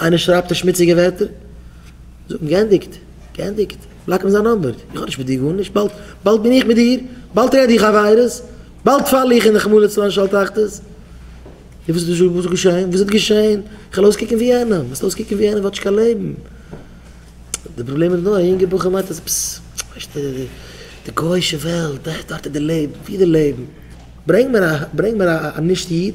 איינער שרייבט א שמוציגע ווערטער, זאג אים גענדיגט, גענדיגט, בלאק אים זיין נאמבער, איך האב נישט מיט דיר גארנישט, באלד, באלד בין איך מיט דיר, באלד רעד איך עבירות, באלד פאל איך אין רחמנא לצלן של תחתית. און וואס איז דא געשעהן, וואס איז געשעהן, איך וועל אויסקוקן ווי יענעם, וועסט אויסקוקן ווי יענעם, וואטש קיין לעבן. די פראבלעם איז נאר, א יונגע בחור מיינט אז פס, ווייסט די גויאישע וועלט, דארט איז די לעבן, ווי איז די לעבן, ברענג מיר א, ברענג מיר א נישט איד,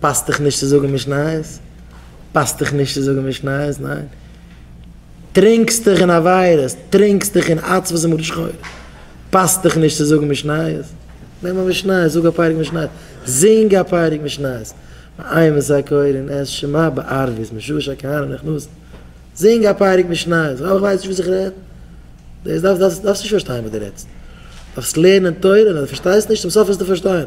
פאסט דיך נישט צו זאגן משניות? פאסט דיך נישט צו זאגן משניות? ניין? טרינקסט דיך אין עבירות, טרינקסט דיך אין עצבות און מרת שחורים, פאסט דיך נישט צו זאגן משניות? נעם א משניות, זאג א פרק משניות, זינג א פרק משניות, ועיין מס' קוה און עס שמע בערבית משעה שהכהנים נכנסו, זינג א פרק משניות, איך ווייס נישט וואס איך רעד? דאס דארפסט נישט פארשטיין וואס דו רעדסט, דארפסט לערנען תורה, און אז דו פארשטייסט נישט, צום סוף וועסטו פארשטיין.